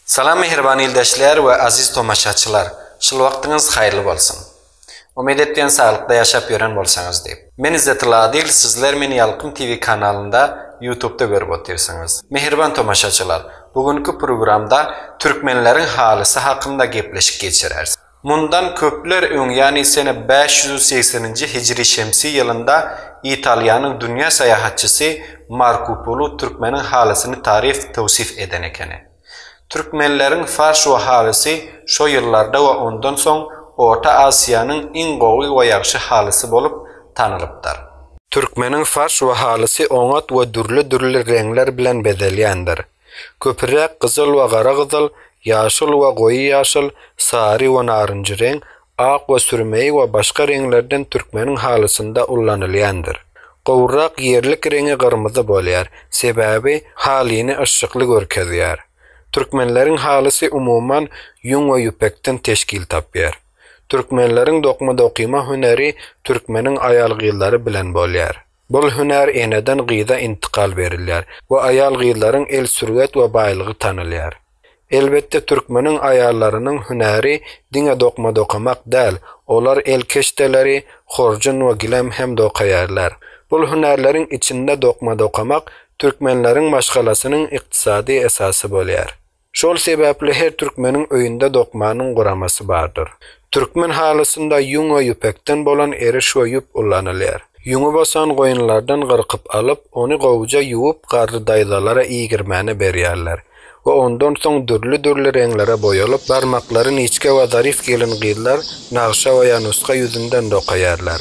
Salam mähriban ildeşler we aziz tomaşaçylar! Şul wagtyňyz haýyrly bolsun! Umyt etýän saglykda ýaşap ýören bolsaňyz diýip. Men Izzetulla Adil sizler meni Ýalkym TV kanalynda ýutubda görüp otyrsyňyz. Mähriban tomaşaçylar bu günki programda türkmenleriň halysy hakynda gepleşik geçireris. Mundan köpler öň, ýagny sene bäş ýüz segseninji hijri-şemsi ýylynda Italiýanyň dünýä saýahatçysy Marku Polu türkmeniň halysyny taryf, töwsif eden ekeni. Türkmenleriň farşo halysy şo ýyllarda we ondan soň Orta Asiýanyň iň gowy we ýagşy halysy bolup tanylypdyr. Türkmeniň farşo halysy oňat we dürli-dürli reňler bilen bezelýändir. Köpüräk gyzyl we gara gyzyl, ýaşyl we goýy ýaşyl, sary we narynjy reň, ak we sürmeý we başga reňlerden türkmeniň halysynda ullanylýandyr. Gowrak ýerlik reňi gyrmyzy bolýar, sebäbi halyny yşykly görkezýär. Türkmenleriň halysy umuman ýüň we ýüpekden teşkil tapýar. Türkmenleriň dokma-dokyma hüneri türkmeniň aýal-gyzlary bilen bolýar. Bul hünär eneden gyza intykal berilýär we aýal-gyzlaryň el sürwet we baýlygy tanalýar. Elbetde türkmeniň aýallarynyň hünäri diňe dokma dokamak däl, olar el keşdeleri, horjun we gilem hem dokaýarlar. Bul hünärleriň içinde dokma dokamak türkmenleriň maşgalasynyň ykdysady esasy bolýar. Şol sebäpli her türkmeniň öýünde dokmanyň guramasy bardyr. Türkmen halysynda ýüň we ýüpekden bolan eriş we ýüp ullanylýar. Ýüňi bosan goýunlardan gyrkyp alyp, ony gowuja ýuwup garry daýzalara iýgirmäne berýärler we ondan soň dürli-dürli reňlere boýalyp, barmaklary niçge we zaryf gelin-gyzlar nagşa we ýa nuska ýüzünden dokaýarlar.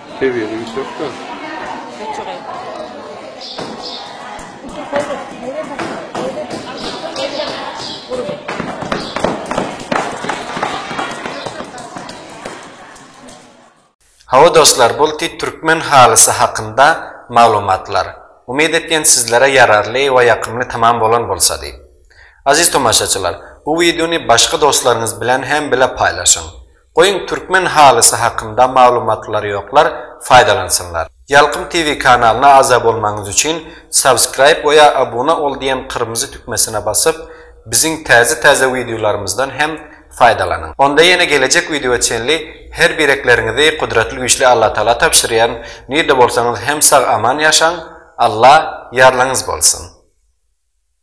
Sebiýeňi ýüksek dur. Hawa dostlar bul ti türkmen halysy hakynda maglumatlar. Umyt etýän sizlere ýararly we ýakymly tamam bolan bolsa diýip. Aziz tomaşaçylar bu wideony başga dostlaryňyz bilen hem bile paýlaşyň. Goýuň türkmen halysy hakynda maglumatlar ýoklar faýdalansynlar. Ýalkym TV kanalyna agza bolmagyňyz üçin subscribe oýa abuna ol diýen kyrmyzy tükmesine basyp biziň täze täze wideolarymyzdan hem faýdalanyň. Onda ýene gelejek wideoa çenli her birekleriňizi gudratly güýçli Allatagala tabşyrýan nirde bolsaňyz hem sag aman ýaşaň Alla ýarlyňyz bolsun.